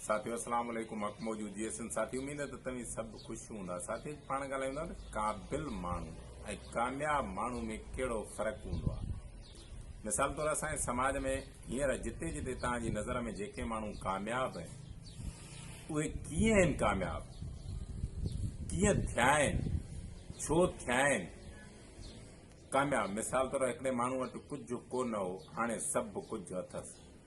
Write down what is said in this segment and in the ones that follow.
ساٿيو السلام عليڪم حق موجود جي اسن ساٿي اميد آهي ته توهين سڀ خوش هوندا ساٿي اڄ پاڻ ڳالهايون ٿا ته قابل ماڻهو ۽ ڪامياب ماڻهو ۾ ڪهڙو فرق هوندو آهي مثال طور اسان جي سماج ۾ هينئر جتي جتي توهان جي نظر ۾ جيڪي ماڻهو ڪامياب آهن اهي ڪيئن آهن ڪامياب ڪيئن ٿيا آهن ڇو ٿيا آهن ڪامياب مثال طور هڪڙي ماڻهو وٽ ڪجهه ڪو نه هو هاڻي سڀ ڪجهه اٿس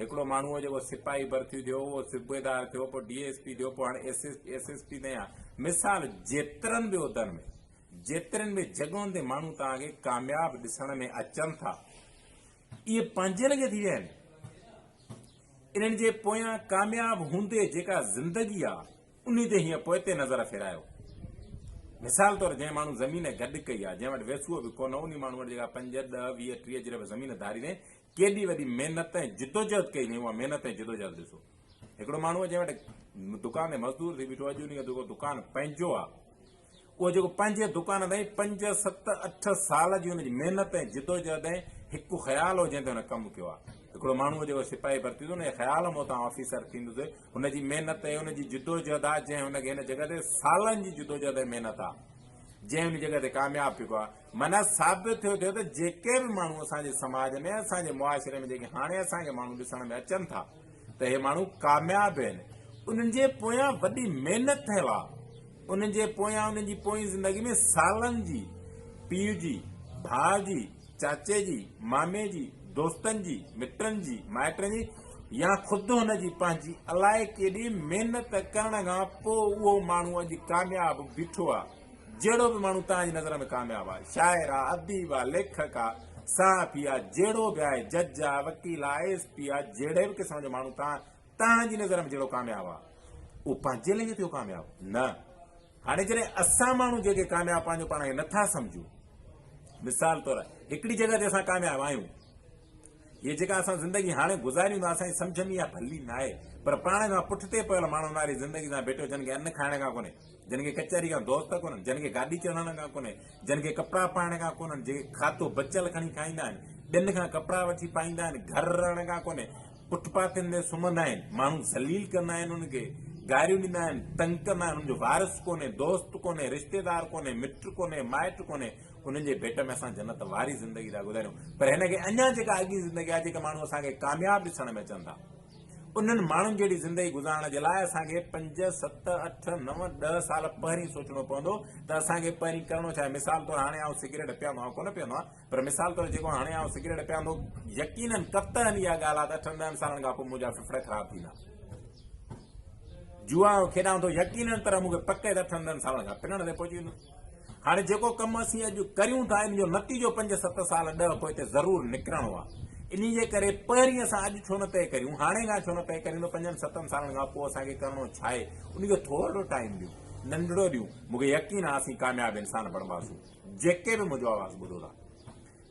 هڪڙو ماڻهو هو جيڪو سپاهي ڀرتي ٿيو اهو صوبيدار ٿيو پوء ڊي ايس پي ٿيو پوء هاڻي ايس ايس پي تائين آ مثال جيترن به عهدن ۾ جيترين به جڳهن تي ماڻهو توهان کي ڪامياب ڏسڻ ۾ اچن ٿا اهي پنهنجي لڳي ٿي ويا آهن انهن جي پويان ڪامياب هوندي جيڪا زندگي آ انهي تي هيئن پوئتي نظر ڦيرايو مثال طور جنهن ماڻهو زمين گڏ ڪئي آ جنهن وٽ ويسو به ڪونه انهي ماڻهو وٽ جيڪا پنج ڏه ويهه ٽيهه جي رپيا زمين ڌاري وين ڪيڏي وڏي محنت ۽ جدوجهد ڪئي هئائين، اها محنت ۽ جدوجهد ڏسو. هڪڙو ماڻهو جنهن وٽ دڪان تي مزدور ٿي بيٺو، اڄ ان جو جيڪو دڪان پنهنجو آهي، اهو جيڪو پنهنجي دڪان تائين پنج، ست، اٺ سال جي ان جي محنت ۽ جدوجهد ۽ هڪ خيال هو جنهن تي هن ڪم ڪيو آهي. هڪڙو ماڻهو جيڪو سپاهي ڀرتي ٿيو نه، خيال مون تان آفيسر ٿيندس، هن جي محنت ۽ ان جي جدوجهد آهي، جنهن هن کي هن جڳهه تي سالن جي جدوجهد ۽ محنت آهي، جنهن هن جڳهه تي ڪامياب ٿيو آهي. معنيٰ ثابت ٿيو ٿيو ته جيڪي به ماڻهو اسان جي سماج ۾ اسان جي معاشري ۾ جيڪي هاڻي اسان کي ماڻهو ڏسڻ ۾ اچن ٿا ته اهي ماڻهو ڪامياب آهن انهن جي پويان وڏي محنت ٿيل آ انهن جي پويان انهن جي پوئين زندگي ۾ سالن جي پيء جي ڀاء جي چاچي جي مامي جي دوستن جي مٽن جي مائٽن جي يا خود هن جي پنهنجي الائي ڪيڏي محنت ڪرڻ کان پوء اهو ماڻهو اڄ ڪامياب بيٺو آ جهڙو به ماڻهو توهان جي نظر ۾ ڪامياب آهي، شاعر آ، اديب آ، ليکڪ آ، صحافي آ، جهڙو به آهي، جج آ، وڪيل آ، آء ايس پي آ، جهڙي به قسم جو ماڻهو توهان توهان جي نظر ۾ جهڙو ڪامياب آ، اهو پنهنجي لنگهه ٿيو ڪامياب؟ نه. هاڻي جڏهن اسان ماڻهو جيڪي ڪامياب پنهنجو پاڻ کي نٿا سمجهون، مثال طور هڪڙي جڳهه تي اسان ڪامياب آهيون، هيء جيڪا اسان زندگي هاڻي گذاريون ٿا اسان جي سمجهه ۾ اها ڀلي ناهي، پر پاڻ کان پٺتي پيل ماڻهو ناري زندگي سان ڀيٽيو جن کي ان کائڻ کان ڪونهي. جن کي ڪچهري کان دوست ڪونهن، جن کي گاڏي چڙهڻ کان ڪونهي، جن کي ڪپڙا پائڻ کان ڪونهن، جيڪي کاڌو بچيل کڻي کائيندا آهن، ٻين کان ڪپڙا وٺي پائيندا آهن، گهر رهڻ کان ڪونهي، فٽ پاٿن تي سمهندا آهن، ماڻهو ذليل ڪندا آهن انهن کي، گاريون ڏيندا آهن، تنگ ڪندا آهن، انهن جو وارث ڪونهي، دوست ڪونهي، رشتيدار ڪونهي، مٽ ڪونهي، مائٽ ڪونهي، انهن جي ڀيٽ ۾ اسان جنت واري زندگي ٿا گذاريون، پر هن کي اڃا جيڪا اڳين زندگي آهي، جيڪي ماڻهو اسان کي ڪامياب ڏسڻ ۾ اچن ٿا. انهن ماڻهن جهڙي زندگي گذارڻ جي لاء اسان کي پنج، ست، اٺ، نو، ڏهه سال پهرين سوچڻو پوندو ته اسان کي پهرين ڪرڻو ڇا آهي. مثال طور هاڻي آئون سگريٽ پيئندو آهيان ڪونه پيئندو آهيان پر مثال طور جيڪو هاڻي آئون سگريٽ پيئندو يقيناً قطعاً اها ڳالهه آهي ته اٺن ڏهن سالن کان پوء منهنجا ڦڦڙا خراب ٿيندا. جوا کيڏان ٿو يقيناً طرح مون کي پڪ آهي ته اٺن ڏهن سالن کان پنڻ تي پهچي ويندس. هاڻي جيڪو ڪم اسين اڄ ڪريون ٿا، ان جو نتيجو پنج ست سال ڏهه پوئتي ضرور نڪرڻو آهي. انهي جي ڪري پهرين اسان اڄ ڇو نه طئي ڪريون، هاڻي کان ڇو نه طئي ڪريون ته پنجن ستن سالن کان پوء اسان کي ڪرڻو ڇا آهي؟ انهي کي ٿورڙو ٽائيم ڏيون، ننڍڙو ڏيون، مون کي يقين آهي اسين ڪامياب انسان بڻباسون. جيڪي به منهنجو آواز ٻڌو ٿا.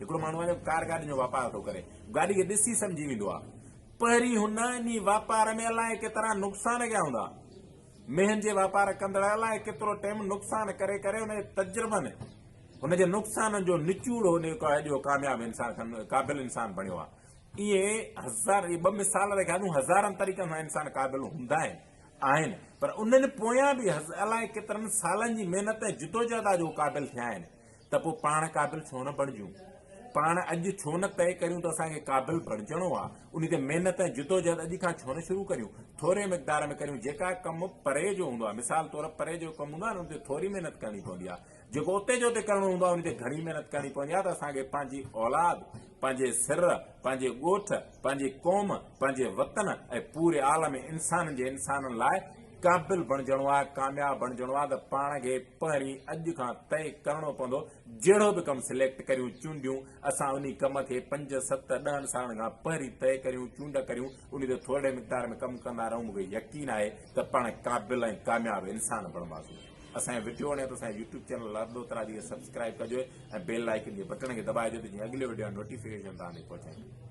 هڪڙو ماڻهو آهي جو ڪار گاڏين جو واپار ٿو ڪري، گاڏي کي ڏسي سمجهي ويندو آهي. پهرين هن انهي واپار ۾ الائي ڪيترا نقصان ڪيا هوندا. مينهن جي واپار ڪندڙ الائي ڪيترو ٽيم نقصان ڪري ڪري ان جي تجربن ان جي نقصانن جو نچوڙو نيڪو آهي جو ڪامياب انسان کن قابل انسان بڻيو آهي. ائين هزار اهي ٻه مثال رکيا ٿيون هزارن طريقن سان انسان قابل هوندا آهن آهن پر انهن پويان به الائي ڪيترن سالن جي محنت ۽ جدوجهد آهي جو هو قابل ٿيا آهن. ته پوء پاڻ قابل ڇو نه بڻجون؟ پاڻ اڄ ڇو نه طئي ڪريون ته اسان کي قابل بڻجڻو آ، انهي تي محنت ۽ جدوجهد اڄ کان ڇو نه شروع ڪريون؟ ٿوري مقدار ۾ ڪريون، جيڪا ڪم پري جو هوندو آ، مثال طور پري جو ڪم هوندو آ نه ان تي ٿوري محنت ڪرڻي پوندي آ، جيڪو اتي جو اتي ڪرڻو هوندو آ انهي تي گهڻي محنت ڪرڻي پوندي آ ته اسان کي پنهنجي اولاد، پنهنجي سر، پنهنجي ڳوٺ، پنهنجي قوم، پنهنجي وطن ۽ پوري عالم انسانن جي انسانن لاء قابل بڻجڻو آ، ڪامياب بڻجڻو آ ته پاڻ کي پهرين اڄ کان طئي ڪرڻو پوندو، جهڙو به ڪم سليڪٽ ڪريون، چونڊيون، اسان انهي ڪم کي پنج، ست، ڏهن سالن کان پهرين طئي ڪريون، چونڊ ڪريون، انهي تي ٿورڙي مقدار ۾ ڪم ڪندا رهون، مون کي يقين آهي ته پاڻ قابل ۽ ڪامياب انسان بڻباسون. اسان جي وڊيو وڻي ته اسان جي يوٽيوب چينل لردوتراجي کي سبسڪرائيب ڪجو ۽ بيل آئيڪن جي بٽڻ کي دٻائجو ته جيئن اڳلي وڊيو جا نوٽيفڪيشن توهان تائين پهچائيندو.